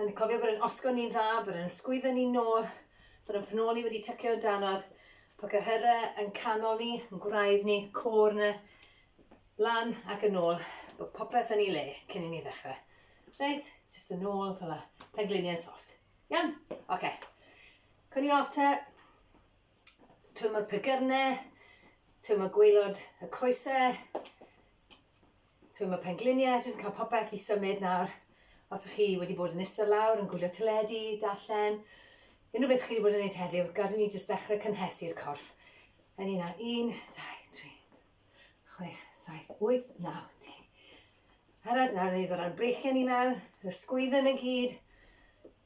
Yn cofio bod yn osgo ni'n dda, bod yn sgwyddo ni'n nôl, bod yn pnoli wedi tycio yn danodd, bod cyhyrau yn canol ni, yn gwraidd ni, côr na, lan ac yn ôl, bod popeth yn ei le cyn i ni ddechrau. Reit, jyst yn ôl, fel la, pengliniau yn soft. Iawn? Oce. Okay. Cwn i off ta, twym o'r pregyrnau, twym o gweilod y coesau, Timod, mae pengliniau jyst yn cael popeth i symud nawr. Os ych chi wedi bod yn ista lawr yn gwylio teledu, darllen, unrhyw beth chi wedi bod yn gwneud heddiw, gad i ni jyst ddechrau cynhesu'r corff. Yn un nawr, un, dau, tri, chwech, saith, wyth, naw, di. Arad nawr, ni ddod ran breichiau ni mewn, yr ysgwyddon y gyd,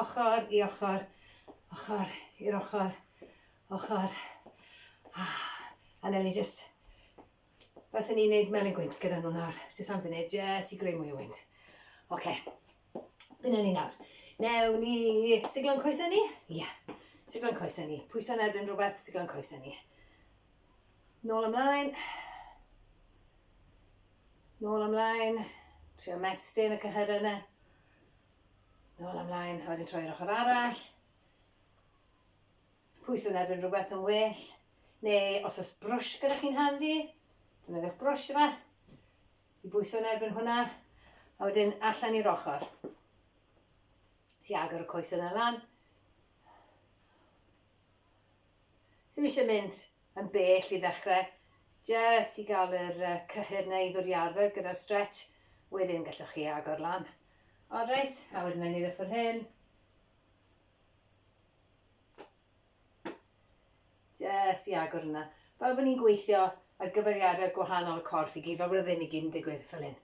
Ochr i ochr, ochr i'r ochr, ochr. A newn ni jyst... Faswn i'n neud melyn gwynt gyda nhw nawr, jyst am funud, jyst i greu mwy o wynt. Oce. Dyna ni nawr. Newn ni siglo'n coesau ni? Ie. Siglo'n coesau ni. Pwyso'n erbyn rhywbeth, siglo'n coesau ni. Nôl ymlaen. Nôl ymlaen. Trio mestyn y cyhyrau yna. Nôl a mlaen, a wedyn troi i'r ochr arall. Pwyso yn erbyn rhywbeth yn well. Neu os oes brwsh gyda chi'n handi, defnyddiwch brwsh yma. I bwyso yn erbyn hwnna, a wedyn allan i'r ochr. Si agor y coes yna lan. Sy'n eisiau mynd yn bell i ddechrau, jest i gael yr cyhyr 'na i ddod i arfer gyda'r stretch, wedyn gallwch chi agor lan. O reit, a wedyn wna i wneud y ffwrdd hyn. Jest i agor yna. Fel bod ni'n gweithio ar gyfeiriadau gwahanol y corff i gyd, fel bod y ddim i gyd yn digwydd fel hyn.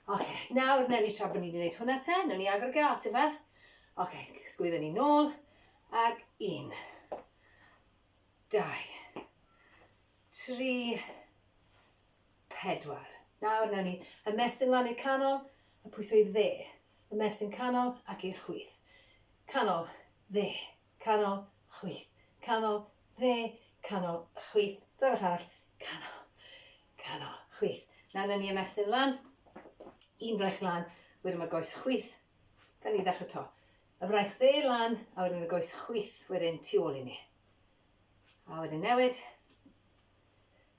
Ok, nawr wnewn ni tra bod ni wedi gwneud hwnna te, wnewn ni agor y gât ife? Ok, sgwyddo ni nôl, ac un. Dau. Tri. Pedwar. Nawr, newn ni ymestyn lan i'r canol, a pwyso i'r dde. Ymestyn canol ac i'r chwith. Canol, dde, canol, chwith, canol, dde, canol, chwith. Dangos arall. Canol, canol, chwith. Nawr, newn ni ymestyn lan. Un braich lan, wedyn mae'r goes chwith. Gawn ni ddechrau to. A wraith dde lan a wedyn y goes chwith wedyn tu ôl i ni. A wedyn newid.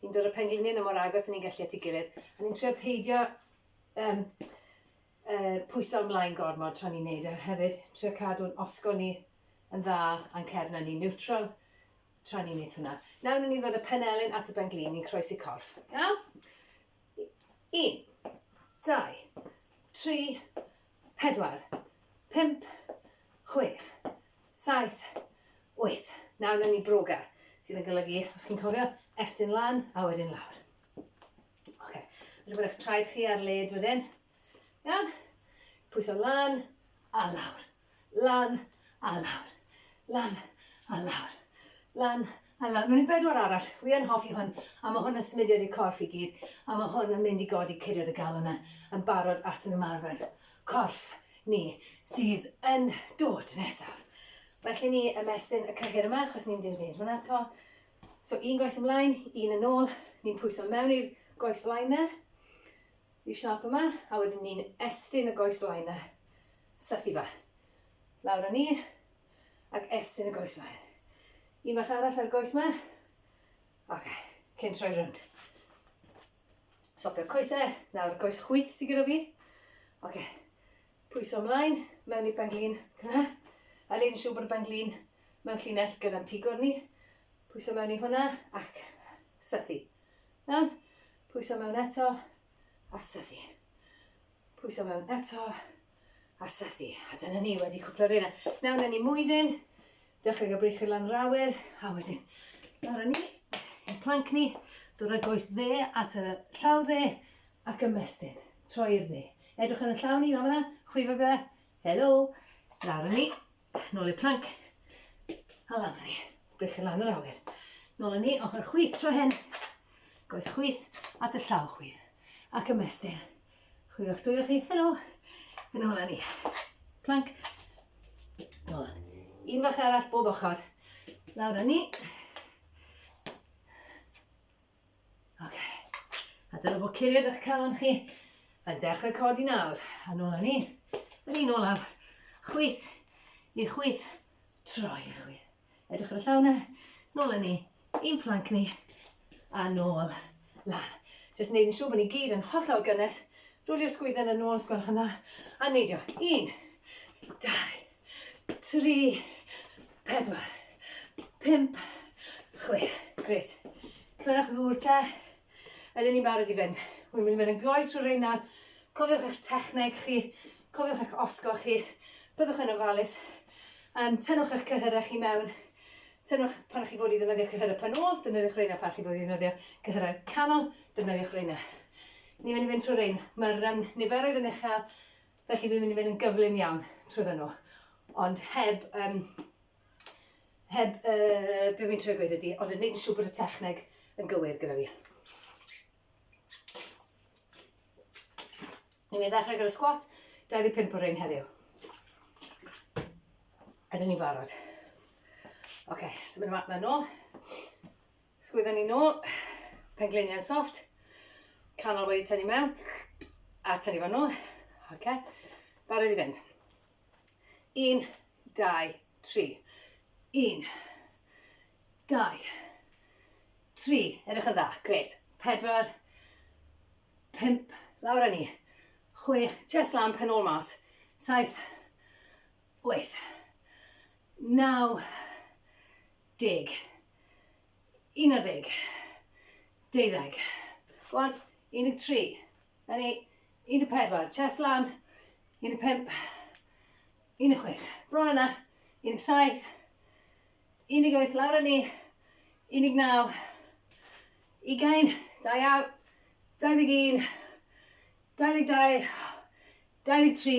Ni'n dod y pengliniau na mor agos a ni'n gallu at ei gilydd. A ni'n trio peidio um, uh, pwyso ymlaen gormod tra ni'n neud e. Hefyd, trio cadw'n osgo ni yn dda a'n cefn a ni'n niwtral tra ni'n neud hwnna. Nawr ni'n ddod y penelin at y benglin, ni'n croesi corff. Iawn? Un, dau, tri, Pedwar. Pump. Chwech. Saith. Wyth. Nawr newn ni broga, sydd yn golygu, os chi'n cofio, estyn lan a wedyn lawr. Oce. Rwy'n bod eich traed chi ar led wedyn. Iawn? Pwyso lan a lawr. Lan a lawr. Lan a lawr. Lan Ella mewn i bedwar arall. Wi yn hoffi hwn a ma hwn yn symudiad i'r corff i gyd a ma hwn yn mynd i godi curiad y galon a yn barod at yn ymarfer corff ni sydd yn dod nesaf. Well i ni ymestyn y cyhyr yma achos ni'n mynd i neud hwnna to. So un goes ymlaen, un yn ôl, ni'n pwyso mewn i'r goes flaen na, i'r siâp yma a wedyn ni'n estyn y goes flaen na, syth i fa. Lawr a ni, ac estyn y goes mlaen. Un mas arall ar y goes ma. Oce, cyn troi rownd. Swapio coesau, nawr goes chwyth sy'n gyda fi. Oce, pwyso ymlaen, mewn i benglin, gyda. A ni'n siŵr bod y benglin mewn llinell gyda'n pigwr ni. Pwyso mewn i hwnna ac sythu. Iawn? Pwyso mewn eto a sythu. Pwyso mewn eto, a sethu. A dyna ni, wedi cwpl o reina. Nawr na ni mwydyn, dechrau gael breichyd lan yr awyr, a wedyn, nawr na ni, y planc ni, dod â goes dde at y llaw dde, ac ymestyn, troi'r dde. Edrych yn y llaw ni, fan fyna, chwifo fe, helo, nawr na ni, Nôl i'r plank. A lan ni. Brechu lan yr awyr. Nôl ni, ochr chwith tro hyn. Goes chwith at y llaw chwith. Ac ymestyn. Chwith o'ch dwylo chi. Helo. Yn ôl ni. Plank. Nôl. Un fach arall bob ochr. Lawr ni. Ok, a dyna bod curiad eich calon chi yn dechrau codi nawr. A nôl â ni. Yn un olaf. Chwyth i chwyth. Troi i chwi. Edrych ar y llaw na. Nôl â ni. Un planc ni. A nôl. Lan. Jyst wneud yn siŵr bod ni gyd yn hollol gynnes. Rwlio sgwydden yn ôl, sgwelwch yn dda. A neidio. Un. Dau. tri, pedwar, pump, chwech. Gret. Clywch ddŵr te. Ydyn ni'n barod i fynd. Wy'n mynd i fynd yn gloi trwy reina. Cofiwch eich techneg chi. Cofiwch eich osgo chi. Byddwch yn ofalus. Um, tynnwch eich cyhyrau chi mewn. Tynnwch pan chi fod i ddefnyddio cyhyrau pan ôl. Defnyddiwch reina pan chi fod i ddefnyddio cyhyrau canol. Defnyddiwch reina. Ni'n mynd i fynd trwy rein. Mae'r um, niferoedd yn uchel. Felly fi'n mynd i fynd yn gyflym iawn trwyddo nhw. Ond heb, um, heb, uh, be fi'n trwy gweud ydi, ond yn neud siw bod y techneg yn gywir gyda fi. Ni'n mynd i ddechrau gyda squat, 25 o'r ein heddiw. Ydyn ni'n barod? Oce, okay, so mynd yma, na nôl. Sgwydda ni nôl, pengliniau'n soft, canol wedi tynnu mewn, a tynnu fan nôl. Oce, okay. barod i fynd. Un, dau, tri. Un, dau, tri. Edrych yn dda, gret. Pedwar, pimp, lawr â ni. Chwech, chest lamp yn ôl mas. Saith, wyth, naw, Deg. Unarddeg. Deuddeg. Go on. Un deg tri. Na ni. Un deg pedwar. Chest lan. Un deg pump. Un deg chwech. Bron yna. Un deg saith. Un deg wyth. Lawr â ni. Un deg naw. Ugain. Da iawn. Dau ddeg un. Dau ddeg dau. Dau ddeg tri.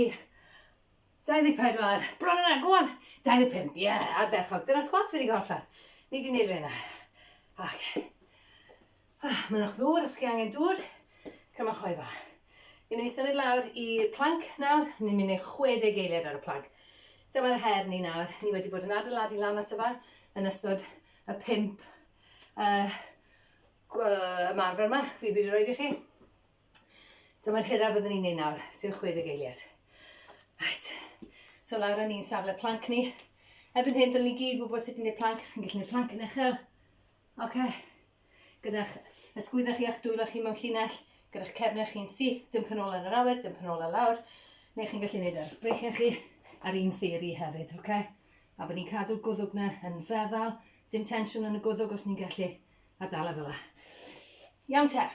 24, bron yna, go on! 25, ie, ardderchog, dyna sgwats fi wedi cael allan. Ni wedi gwneud rheina. Ac, ah, mynnwch ddŵr os chi angen dŵr, crymwch hoe fach. Ni'n mynd i symud lawr i'r planc nawr, ni'n mynd i 60 eiliad ar y planc. Dyma'r her ni nawr, ni wedi bod yn adeiladu lan at y fa yn ystod y pimp uh, ymarfer yma, fi wedi rhoi i chi. Dyma'r hyraf fyddwn ni'n ei nawr, sef 60 eiliad. Right. So lawr yn ni'n safle planc ni. Erbyn hyn, dylwn ni gyd wybod sut i wneud planc. Chi'n gallu gwneud planc yn uchel. Oce. Okay. Gyda'ch ysgwyddau chi a'ch dwylo chi mewn llinell, gyda'ch cefnau chi'n syth, dim penol yn yr awyr, dim penol ar lawr. Neu chi'n gallu gwneud ar breichiau chi ar un theori hefyd, oce? Okay? A bod ni'n cadw'r gwddwg na yn feddal, dim tensiwn yn y gwddwg os ni'n gallu, a dal e fel la. Iawn te.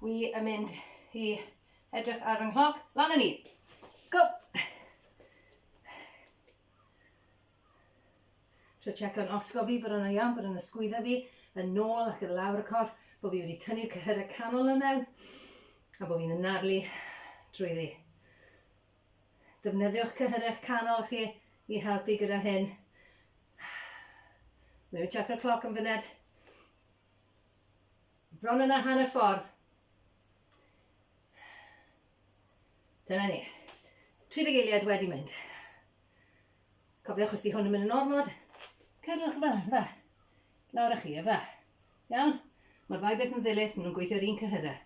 Wi yn mynd i edrych ar fy nghloc. Lan yn ni! Go! Tro checko'n osgo fi bod yna iawn, bod yna sgwydda fi, yn nôl ac yn lawr y corff, bod fi wedi tynnu'r cyhyrau canol yma mewn, a bod fi'n ynadlu drwyddi. Defnyddiwch cyhyrau canol chi i helpu gyda hyn. Mi'n mynd checko'r cloc yn fyned. Bron yna hanner ffordd. Dyna ni. 30 eiliad wedi mynd. Cofiwch os di hwn yn mynd yn ormod, cyrrwch yma, fa. Lawr â chi, e fa. Iawn? Mae'r ddau beth yn ddilys, maen nhw'n gweithio'r un cyhyrra.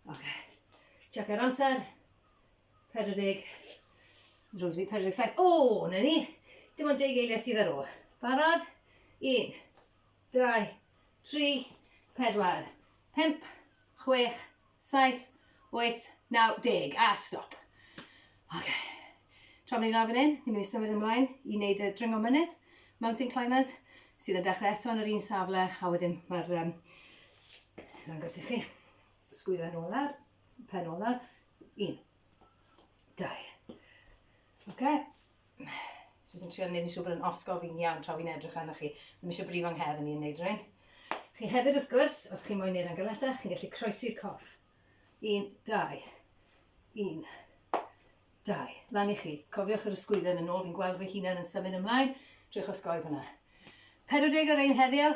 Oce. Okay. Check ar amser. 40. Drwy'r fi, 47. O, na ni. Dim ond deg eiliad sydd ar ôl. Barod? Un. dau, tri, pedwar, pump, chwech, saith, wyth, naw, deg, a stop. Ok, tra maen ni'n dda fan hyn, ni'n mynd i symud ymlaen i wneud y dringo mynydd, mountain climbers, sydd yn dechrau eto yn yr un safle, a wedyn mae'r, um, ddangos i chi, sgwydda nôl ar, pen nôl ar, un, Dau. Oce. Jyst yn trio neud yn siŵr bod yn osgof fi'n iawn tra fi'n edrych arnoch chi. Ddim eisiau brifo yng nghefn i yn neud rhywun. Chi hefyd wrth gwrs, os chi'n moyn neud yn galetach, chi'n gallu croesi'r corff. Un, dau. Un, dau. Lan i chi. Cofiwch yr ysgwydden yn ôl, fi'n gweld fy hunan yn symud ymlaen. Trwy'ch osgoi hwnna. 40 ar ein heddiw,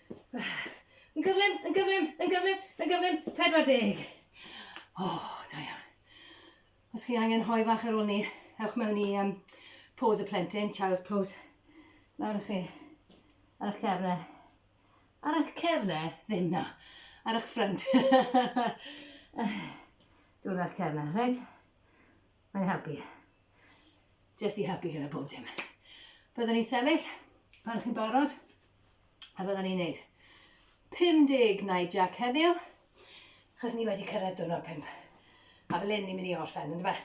Yn gyflym, yn gyflym, yn gyflym, yn gyflym, 40. O, oh, da iawn. Os chi angen hoi fach ar ôl ni, ewch mewn i um, pose y plentyn, child's pose. Nawr ych chi, ar eich cefne. Ar eich cefne, ddim na, ar eich ffrynt. Dwi'n eich cefne, reit? Mae'n helpu. Jyst i helpu gyda bob dim. Byddwn ni'n sefyll pan chi'n barod a byddwn ni'n neud 50 nai jac heddiw achos ni wedi cyrraedd dwrnod 5. A fel hyn ni'n mynd i orffen, ynddo fe?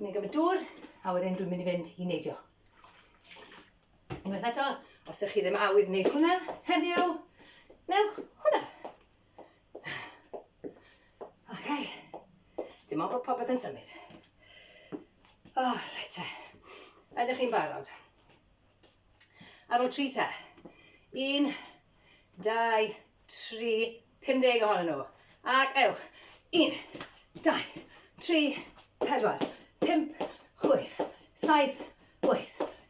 Ni'n gymryd dŵr, a wedyn dwi'n mynd i fynd i neidio. Unwaith eto, os ydych chi ddim awydd wneud hwnna heddiw, newch hwnna. Okay. Dim ond bod popeth yn symud. O, oh, reit te. Ydych chi'n barod? Ar ôl tri te. Un, dau, tri, 50 ohonyn nhw. Ac ewch. Un, dau, tri, pedwar, pimp, chwyth, saith, wyth,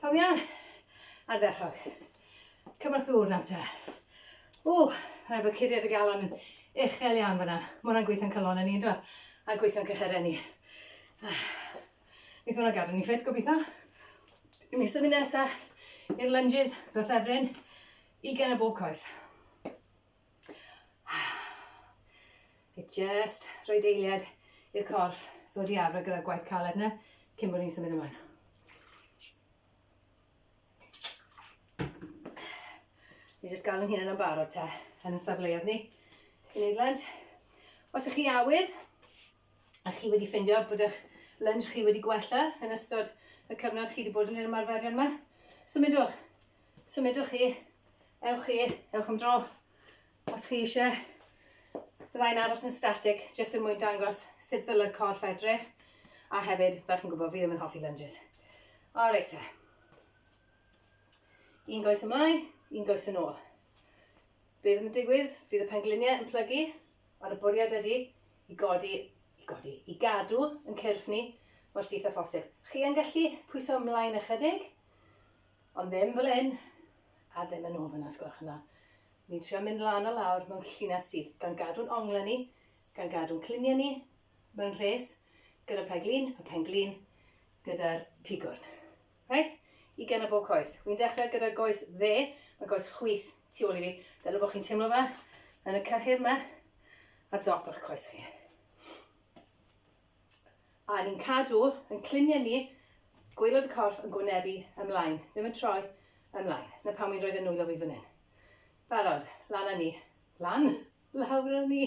Pam iawn? Ardderchog. Cymorth ddŵr nawr te. Ww, rhaid bod curiad y galon yn uchel iawn fyna. Mae hwnna'n gweithio'n calonau ni, ynddo? A gweithio'n cychyrau ni. Ah. Neith hwnna gadw ni ffit, gobeithio. I mi symud nesa i'r lunges, fy ffefryn, ugain o bob coes. It just rhoi deiliad i'r corff ddod i arfer gyda'r gwaith caled na cyn bod ni'n symud ymlaen. Ni jyst gael yn hyn yn barod te, yn y safleoedd ni. I wneud lunge. Os ych chi awydd, a chi wedi ffindio bod eich lunge chi wedi gwella yn ystod y cyfnod chi wedi bod yn yr ymarferion yma, symudwch Symudwch chi, ewch chi, ewch am dro. Os chi eisiau, fyddai'n aros yn static, jyst yn er mwyn dangos sut ddylai'r corff edrych. A hefyd, fel chi'n gwybod, fi ddim yn hoffi lunges. O, reit te. Un goes ymlaen, un goes yn ôl. Be fydd yn digwydd? Fydd y pengliniau yn plygu, ond y bwriad ydy i godi, i godi, i gadw yn cyrff ni mor syth â phosib. Chi yn gallu pwyso ymlaen ychydig, Ond ddim fel hyn, a ddim yn ôl fan'na, os gwelwch yn dda. Ni'n trio mynd lan a lawr mewn llinell syth, gan gadw'n onglau ni, gan gadw'n cluniau ni mewn rhes, gyda peg lun a phen glin, gyda'r pigwrn. Reit? I gen o bob coes. Wi'n dechrau gyda'r goes dde, mae goes chwith tu ôl i fi. Dyna bod chi'n teimlo fe yn y cyhyr yma, ar dop o'ch coes chi. a ni'n cadw yn cluniau ni gwaelod y corff yn gwynebu ymlaen, ddim yn troi ymlaen. Na pan wi'n rhoid y nwylo fi fan hyn. Barod, lan a ni. Lan? Lawr a ni.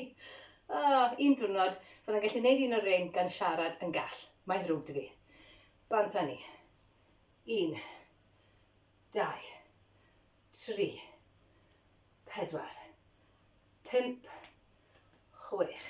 Oh, un diwrnod, fyddai'n gallu gwneud un o'r rein gan siarad yn gall. Mae'n ddrwg dy fi. Bant a ni. Un. Dau. Tri. Pedwar. Pump. Chwech.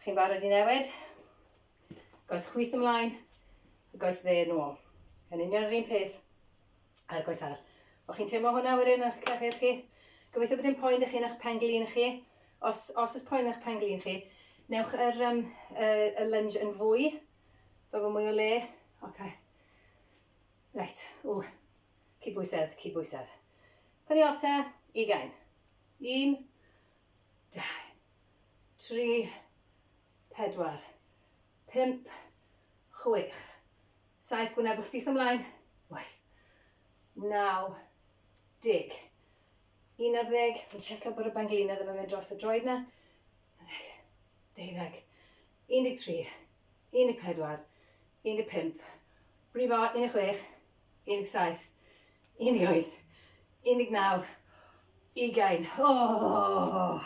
Chi'n barod i newid? Goes chwith ymlaen, goes dde yn ôl. Yn union yr un peth a'r goes arall. O'ch chi'n teimlo hwnna wedyn o'ch clefyd chi? Gobeithio bod dim poen ych chi'n eich penglin chi. Os, os ys poen eich penglin chi, newch yr, um, y, y lunge yn fwy, fel bod mwy o le. Oce. Okay. Reit, ww. Cyd bwysedd, cyd bwysedd. Pan i off te, ugain. Un, dau, tri, pedwar, pump, chwech, saith, gwynebwch syth ymlaen, wyth, naw, deg, un ar ddeg, fi'n checio bod y banglinau ddim yn mynd dros y droed na, ddeg, deuddeg, un deg tri, un deg pedwar, un deg pump, brifo, un deg chwech, 17, 18, 19, ugain. O!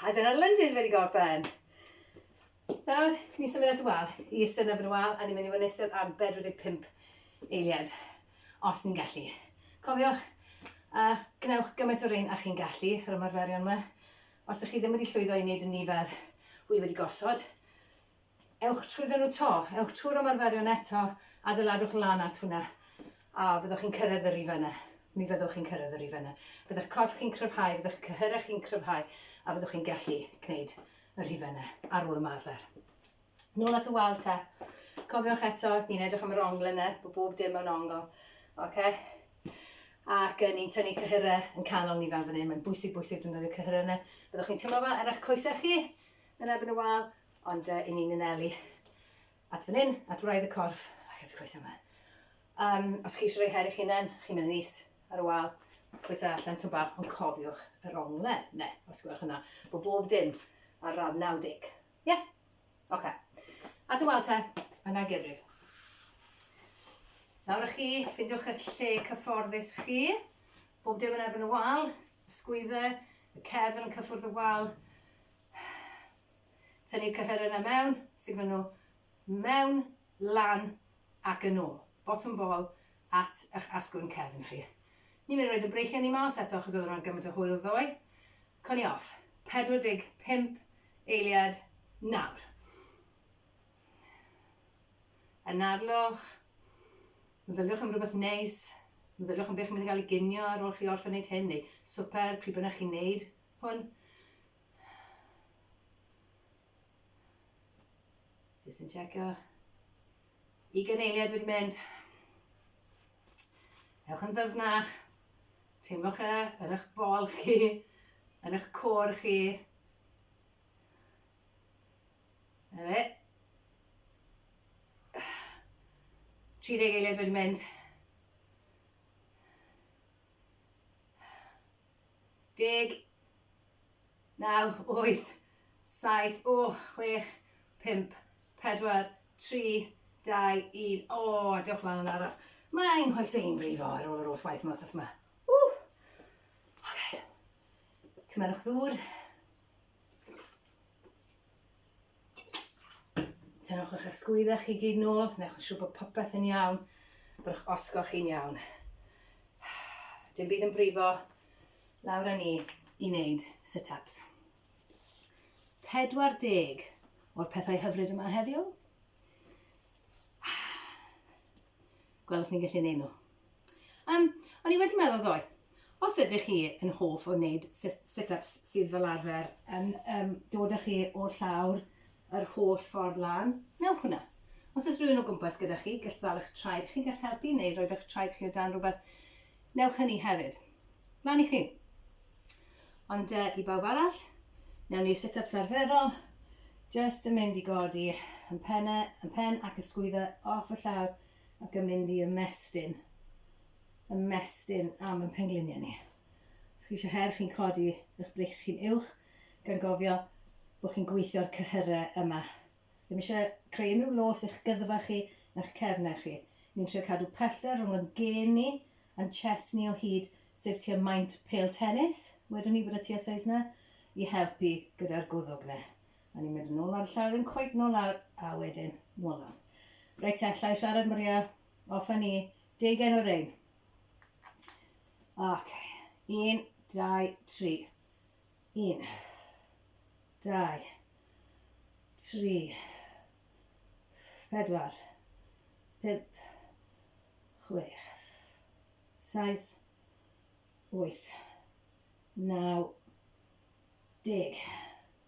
A dyna'r lunges wedi gorffen. Nawr, ni'n symud at y wal. I eistedd yn erbyn y wal, a ni'n mynd i fod yn eistedd ar 45 eiliad, os ni'n gallu. Cofiwch, a gwnewch gymaint o rein a chi'n gallu, yr ymarferion yma. Os ydych chi ddim wedi llwyddo i wneud y nifer wy wedi gosod, Ewch trwyddo nhw 'to. Ewch trwy'r ymarferion eto, adeiladwch lan at hwnna, a byddwch chi'n cyrraedd y rif yna. Mi fyddwch chi'n cyrraedd y rif yna. Bydd eich corff chi'n cryfhau, bydd eich cyhyrau chi'n cryfhau, a fyddwch chi'n gallu gwneud y rhifau yna ar ôl ymarfer. Nôl at y wal te. Cofiwch eto, ni'n edrych am yr ongl yna, bod bob dim mewn ongl. Ok? Ac uh, ni'n tynnu cyhyrau yn canol ni fan fan hyn. Mae'n bwysig, bwysig defnyddio cyhyrau yna. Byddwch chi'n teimlo fa ar eich coesau chi, yn erbyn y wal, Ond yy, 'yn ni'n anelu at fan hyn, at wraidd y corff ac at y coesau 'ma. Yym, os chi eisiau rhoi her i'ch hunain, chi'n mynd yn is ar y wal, coesau allan tyn bach, ond cofiwch yr ongle, ne, os gwelwch yna, bod bob dim ar radd 90. Ie? Oce. At y wal te, yna gyfrif. Nawr â chi, ffindiwch eich lle cyfforddus chi, bob dim yn erbyn y wal, sgwydde, y cefn, cyffwrdd y wal, Tynnu'r cyhyr yna mewn, siglo nhw mewn, lan ac yn ôl. Botwm bol at eich asgwrn cefn chi. Ni'n mynd i roid yn breichiau ni mas eto achos oedd hwnna'n gymaint o hwyl ddoe. Coni off. 45 eiliad nawr. Anadlwch. Meddyliwch am rhywbeth neis. Meddyliwch am beth chi'n mynd i gael i ginio ar ôl chi orffen wneud hyn neu swper, pryd bynnag chi'n wneud hwn. Jyst yn checio. I gyneiliad wedi mynd. Ewch yn ddyfnach. Teimlwch e yn eich bol chi, yn eich cor chi. Na fe. 30 eiliad wedi mynd. deg naw wyth saith o chwech pump pedwar tri dau un o dewch lan yn araf mae ein nghoesau ni'n brifo ar ôl yr holl waith yma wrth yma ww okay. cymerwch ddŵr Tynnwch eich ysgwyddau chi gyd nôl, newch yn siŵr bod popeth yn iawn, bod eich osgo chi'n iawn. Dim byd yn brifo, lawr â ni i wneud sit-ups. 40 o'r pethau hyfryd yma heddiw. Gweld os ni'n gallu neud nhw. Um, o'n i wedi meddwl ddoe, os ydych chi yn hoff o wneud sit-ups sydd fel arfer yn um, dod â chi o'r llawr yr holl ffordd lan, newch hwnna. Os oes rhywun o gwmpas gyda chi, gall ddal eich traed chi, gall helpu neu roed eich traed chi o dan rhywbeth, newch hynny hefyd. Lan i chi. Ond uh, i bawb arall, newn ni'r sit-ups arferol, just yn mynd i godi yn penne, yn pen ac ysgwyddo off y llawr, Ac yn mynd i ymestyn, ymestyn am ein pengliniau ni. Os chi eisiau her, chi'n codi eich breichiau chi'n uwch, gan gofio bod chi'n gweithio'r cyhyrau yma. Ddim eisiau creu unrhyw los i'ch gyddfa chi na'ch cefnau chi. Ni'n trio cadw pellter rhwng yn gên ni a'n chest ni o hyd, sef tua maint pêl tenis, wedwn ni bod y tua size 'na, i helpu gyda'r gwddwg 'na. A ni'n mynd yn ôl ar y llaw, ddim cweit nôl lawr, a wedyn nôl lawr. Reit te, allai siarad Maria, off a ni, deugain o rein. Ok, un, dau, tri. Un, dau, tri, pedwar, pump, chwech, saith, wyth, naw, deg.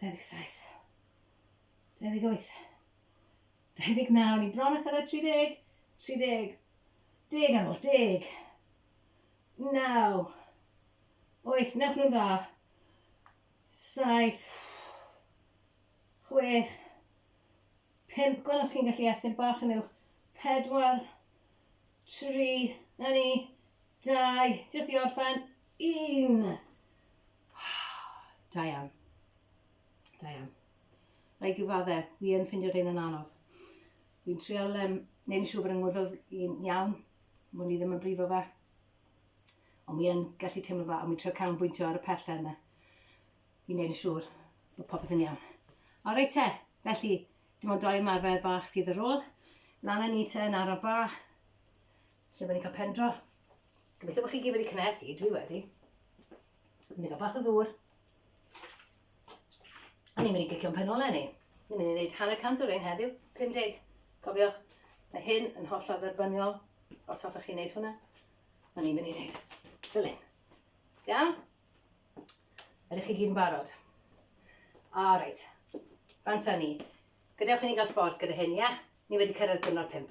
27. 28. 29. Ni bron a thyrra 30. 30. Deg ar ôl. Deg. Naw. Oeth. Newch nhw'n dda. Saith. Chwech. Pimp. Gweld os chi'n gallu estyn bach yn uwch. Pedwar. Tri. Na ni. Dau. Jyst i orffen. Un. Da iawn. Da iawn. Rhaid gyfadde, wi yn ffindio dyn yn anodd. Wi'n trial um, neud yn siŵr bod yn ngwyddoedd i'n iawn, mwyn i ddim yn brifo fe. Ond wi yn gallu teimlo fe, a wi'n trio canolbwyntio ar y pellter yna. I neud yn siŵr bod popeth yn iawn. O reit te, felly, dim ond doi ymarfer bach sydd ar ôl. Lan â ni te yn arno bach. Lle mae ni'n cael pen dro? Gobeithio bod chi gyd wedi cynnes i, dwi wedi. Ni'n mynd i gael bach o ddŵr. A ni'n mynd i gicio'n pen ole ni. Ni'n mynd i wneud hanner cant o rein heddiw, 50. Cofiwch, mae hyn yn holl o dderbyniol, os hoffech chi wneud hwnna. A ni'n mynd i wneud fel hyn. Iawn? Ydych chi gyd yn barod? O, reit. Fanta ni. Gadewch i ni gael sbort gyda hyn, ia? Ni wedi cyrraedd diwrnod pimp.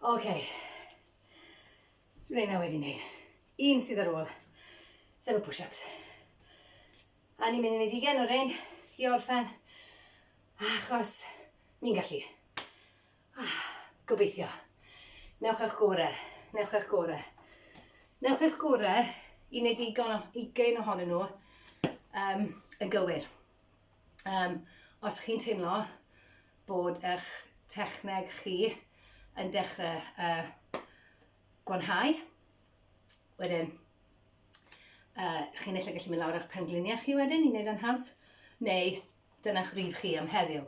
Ok. Rheina wedi neud. Un sydd ar ôl. Sef y push-ups. A ni'n mynd i neud ugen o rein i orffen, achos ni'n gallu. Ah, gobeithio. Newch eich gore. Newch eich gore. Newch eich gore i neud digon o ugen ohonyn nhw um, yn gywir. Yym, os chi'n teimlo bod eich techneg chi yn dechrau uh, gwanhau, wedyn uh, chi'n eich gallu mynd lawr eich pengliniau chi wedyn i wneud yn haws, neu dyna'ch rif chi am heddiw.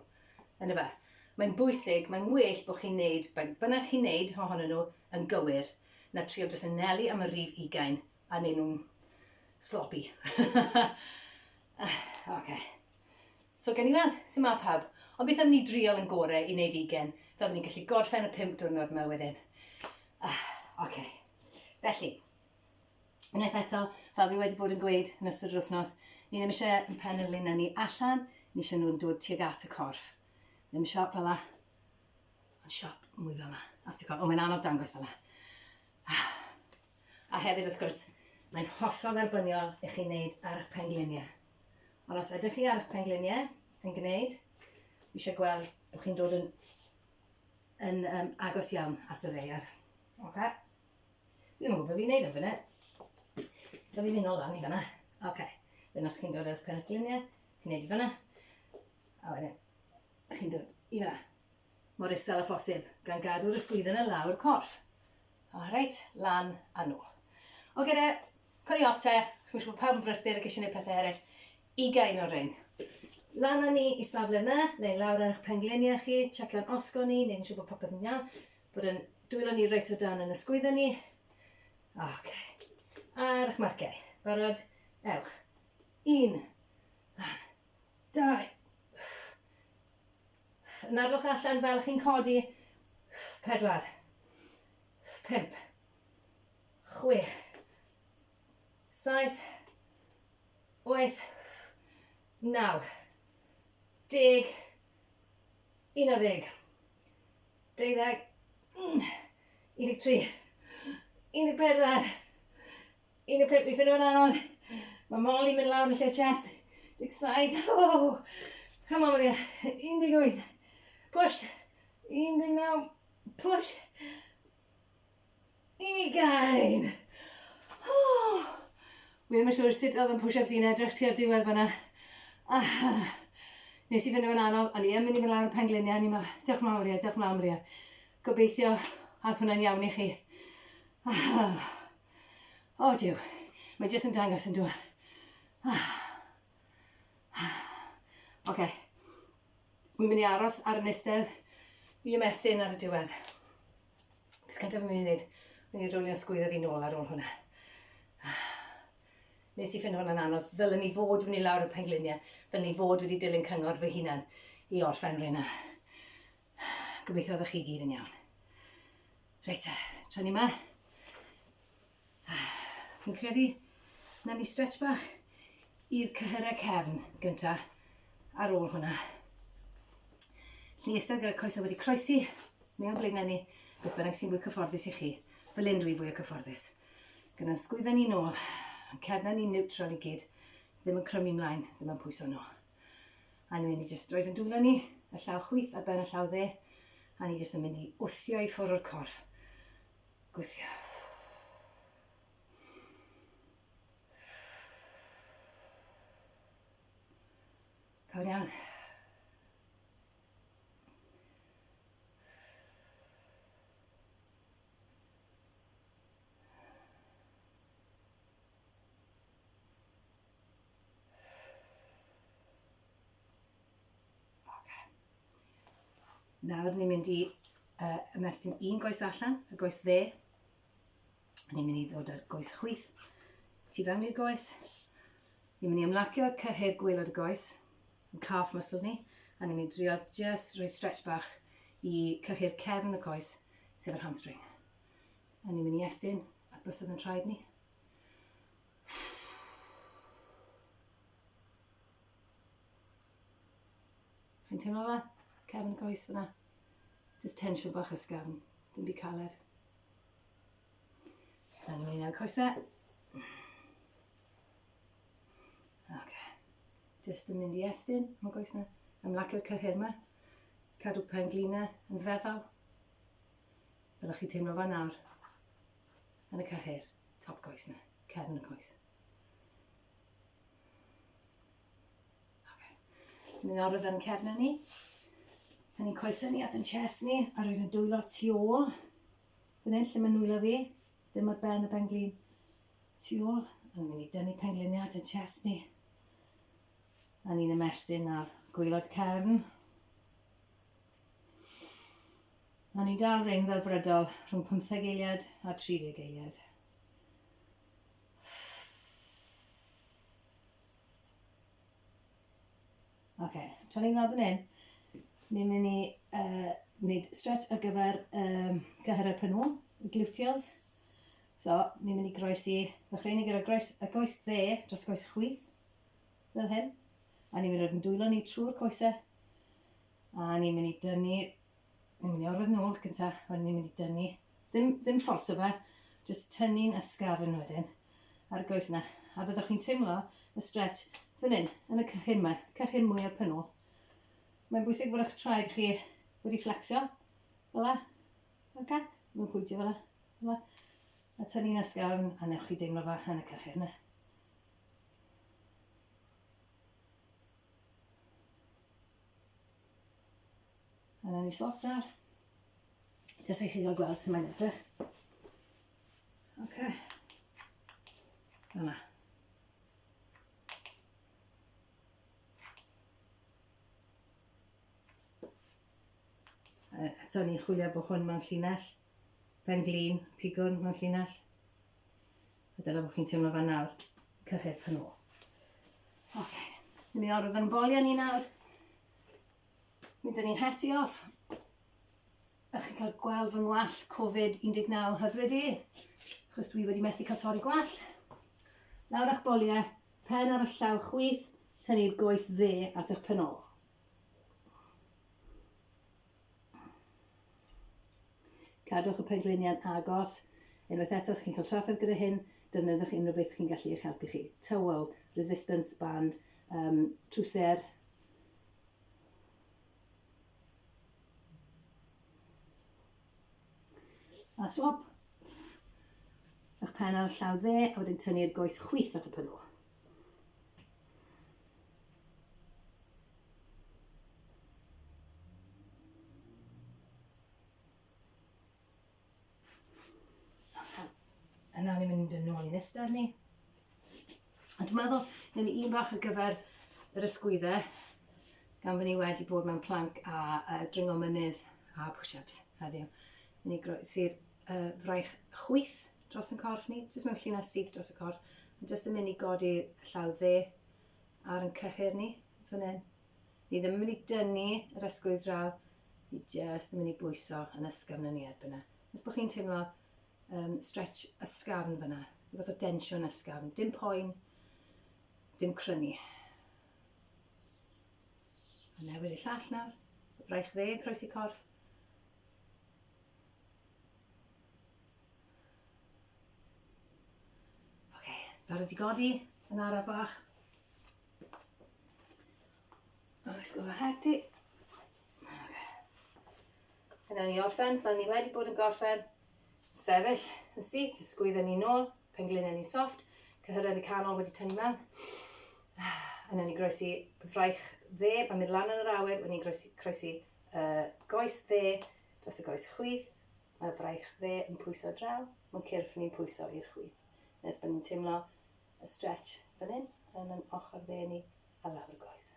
Yn y Mae'n bwysig, mae'n well bod chi'n neud, bynnag chi'n neud ohonyn nhw yn gywir, na trio jyst yn nelu am y rif ugain A neu nhw'n sloppy. ok. So gen i weld sy'n ma pawb. Ond beth am ni driol yn gore i wneud ugen, fel bod ni'n gallu gorffen y pimp diwrnod yma wedyn. Ah, ok. Felly, unwaith eto, fel fi wedi bod yn gweud yn ystod yr wythnos, ni ddim eisiau yn pen yr lun ni allan, ni eisiau nhw'n dod tuag at y corff. Ddim siop fel la. Mae'n siop mwy fel yna. A ti'n cael, o mae'n anodd dangos fel yna. A hefyd wrth gwrs, mae'n hollol dderbyniol i chi wneud ar eich pengliniau. Ond os ydych chi ar eich pengliniau yn gwneud, fi eisiau gweld bod chi'n dod yn, yn um, agos iawn at y ddeiar. Ok? Fi ddim yn gwybod beth fi'n gwneud yn fynnau. Da fi fynd o lan i fyna. Ok. Wedyn os chi'n dod ar eich pengliniau, chi'n gwneud i fyna. A wedyn, chi'n dod i fyna. mor isel â phosib, gan gadw'r ysgwydden yn lawr corff. O, reit, lan a nôl. Oce de, codi off te, chos mae'n siŵr bod pawb yn brysur ac eisiau gwneud pethau eraill. Ugain o'r rhain. Lan â ni i safle yna, neu lawr ar eich pengliniau chi, checio'n osgo ni, neud yn siŵr bod popeth yn iawn, bod yn dwylo ni reit o dan yn ysgwydden ni. Oce. Ar eich marciau. Barod? Ewch. Un. Lan. Da iawn. Nadlwch allan fel chi'n codi. Pedwar. Pump. Chwech. Saith. Wyth. Naw. Deg. Unarddeg. Deuddeg. Unig tri. Unig pedwar. Un o pump, fi'n ffindo fe'n anodd. Mae Molly mynd lawr yn lle chest. 17, oh! Come on, Maria. 18, push. 19, push. Ugain! Oh! Fi ddim yn siŵr sut oedd yn push-ups i'n edrych tua'r diwedd fyna. Ah, nes i fynd o'n anodd, ond i yn mynd i fynd lawr y pengliniau, ni ma, diolch mawr ie, diolch mawr ie. Gobeithio, ath hwnna'n iawn i chi. Ah. O Duw, mae jyst yn dangos yn dwa. Ah. Ah. Oce. Wi'n mynd i aros ar y nistedd i ymestyn ar y diwedd. Beth cyntaf fi'n mynd i wneud? Fi'n mynd i rwlio sgwyddo fi nôl ar ôl hwnna. Ah. Nes i ffind hwnna'n anodd. Ddylen ni fod wedi mynd lawr y pengliniau. Ddylen ni fod wedi dilyn cyngor fy hunan i orffen rhywun. Gobeithio ddech chi gyd yn iawn. Reit e, tra ni ma. Fi'n credu na ni stretch bach i'r cyhyrau cefn gynta ar ôl hwnna. Lli eistedd gyda'r coesau wedi croesi mewn blaenau ni, beth bynnag sy'n fwy cyfforddus i chi. Fel un rwy'n fwy o cyfforddus. Gyda'n sgwydda ni'n ôl, cefna ni'n neutral i gyd, ddim yn crymu mlaen, ddim yn pwyso nhw. A ni'n mynd i jyst roed yn dwylo ni, y llaw chwith ar ben y llaw dde, a ni jyst yn mynd i wthio i ffwrdd o'r corff. Gwthio. Cawn iawn. Nawr ni'n mynd i uh, ymestyn un goes allan, y goes dde. Ni'n mynd i ddod â'r goes chwyth tu fewn i'r goes. Ni'n mynd i ymlacio cyhyr gwylod y goes, yn calf muscle ni, a ni'n mynd i drio just rhoi stretch bach i cyhyr cefn y coes, sef yr hamstring. A ni'n mynd i estyn at bysedd yn traed ni. Chi'n teimlo fe? Cefn y coes fyna. Just tensiwn bach ysgafn. Dim byd caled. Dyna ni'n ei coesau. Jyst yn mynd i estyn, mae'n gweith na. Ymlacio cyhyr yma. Cadw pen glinau yn feddal. Fel chi teimlo fan nawr. yn y cyhyr, top coes na, cefn y coes. Ni'n nawr ar yn cefn ni. Sa'n ni'n coesau ni at yn chest ni, a roed yn dwylo tu ôl. Fyn hyn lle mae'n nwylo fi, ddim ar ben y penglin. Tu ôl, a ni'n mynd i dynnu pengliniau at yn chest ni. A ni'n ymestyn ar gwylod cefn. O'n i'n dal rhein fel brydol rhwng pymtheg eiliad a tri deg eiliad. Oce, tra ni'n ôl fan hyn, ni'n mynd i uh, wneud stretch ar gyfer um, gyhyrau penw, y gluteals. So, ni'n mynd i groesi, ddechrau ni gyda groes, y goes dde dros goes chwith, fel hyn. A ni'n mynd i roed yn dwylo ni trwy'r coesau A ni'n mynd i dynnu, ni'n mynd i orwedd yn ôl gynta, wedyn ni'n mynd i dynnu, ddim, ddim fforso fe, jyst tynnu'n ysgafn wedyn, ar y goes yna. A byddwch chi'n teimlo y stretch fan hyn, yn y cychyn yma, cychyn mwyaf pyn ôl. Mae'n bwysig bod eich traed chi wedi fflecsio, fel la, ok? Mae'n pwyntio fel la, fel la. A tynnu'n ysgafn, a newch chi deimlo fa yn y cychyn yna. A na ni sotar. Jyst i chi gael gweld sy'n mae'n edrych. Ok. Yna. Eto ni'n chwilio bod hwn mewn llinell. Pen glin, pigwn mewn llinell. A dyna beth chi'n teimlo fan nawr, cyhydd pan ôl. Oce, okay. ni'n mynd i orfod yn bolio ni nawr. Mynd ni'n heti off. A chi'n cael gweld fy ngwall Covid-19 hyfryd i, achos dwi wedi methu cael torri gwall. Nawr a'ch boliau, pen ar y llaw chwith, tynnu'r goes dde at eich pen ôl. Cadwch y pengliniau'n agos. Unwaith eto, os chi'n cael trafferth gyda hyn, defnyddiwch unrhyw beth chi'n gallu eich helpu chi. Tywel, resistance band, um, trwser, a swab. Ych pen ar y llaw dde, a wedyn tynnu'r goes chwith at y pylw. Yna ni'n mynd yn ôl i'n ystod ni. A dwi'n meddwl, neu un bach ar gyfer yr ysgwyddau, gan fy ni wedi bod mewn planc a uh, dringo mynydd a push-ups heddiw. Ni groesi'r uh, fraich chwyth dros yn corff ni, jyst mewn llinell syth dros y corff. Mae jyst yn mynd i godi y llaw dde ar yn cyhyr ni, fan hyn. Ni ddim yn mynd i dynnu yr ysgwydd draw, ni jyst yn mynd i bwyso yn ysgafn yn ni erbyn yna. Nes bod chi'n teimlo um, stretch ysgafn fyna, i fath o densiwn ysgafn, dim poen, dim crynu. A newid y llall nawr, y braich dde yn croesi corff. Ok, barod i godi, yn araf bach. Oh, it's gonna hectic. Ok. Yna ni orffen, fel ni wedi bod yn gorffen. Sefyll, yn syth, sgwydden ni nôl, penglinen ni soft, cyhyredd y canol wedi tynnu mewn. Yna ni groesi fraich dde, mae'n mynd lan yn yr awyr, wedi ni'n groesi, croesi uh, goes dde, dros y goes chwith, Mae fraich dde yn pwyso draw, mae cyrff ni'n pwyso i'r chwith. Nes bod ni'n teimlo y stretch fan hyn yn yn ochr dde ni a lawr y goes.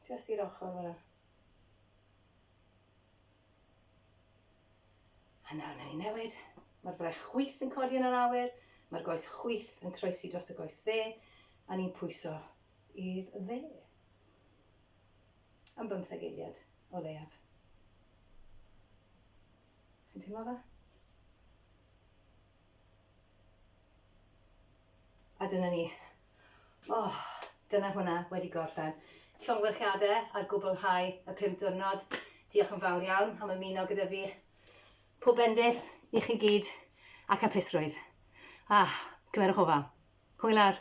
Jyst i'r ochr fel 'na. A nawr na ni newid. Mae'r fraich chwith yn codi yn yr awyr, mae'r goes chwith yn croesi dros y goes dde, a ni'n pwyso i'r dde. Am bymtheg eiliad, o leiaf. Chi'n teimlo fe? A dyna ni. Oh, dyna hwnna wedi gorffen. Llongyfarchiadau ar gwblhau y pum diwrnod. Diolch yn fawr iawn am ymuno gyda fi. Pob bendith i chi gyd ac apusrwydd. Ah, cymerwch ofal. Hwyl ar.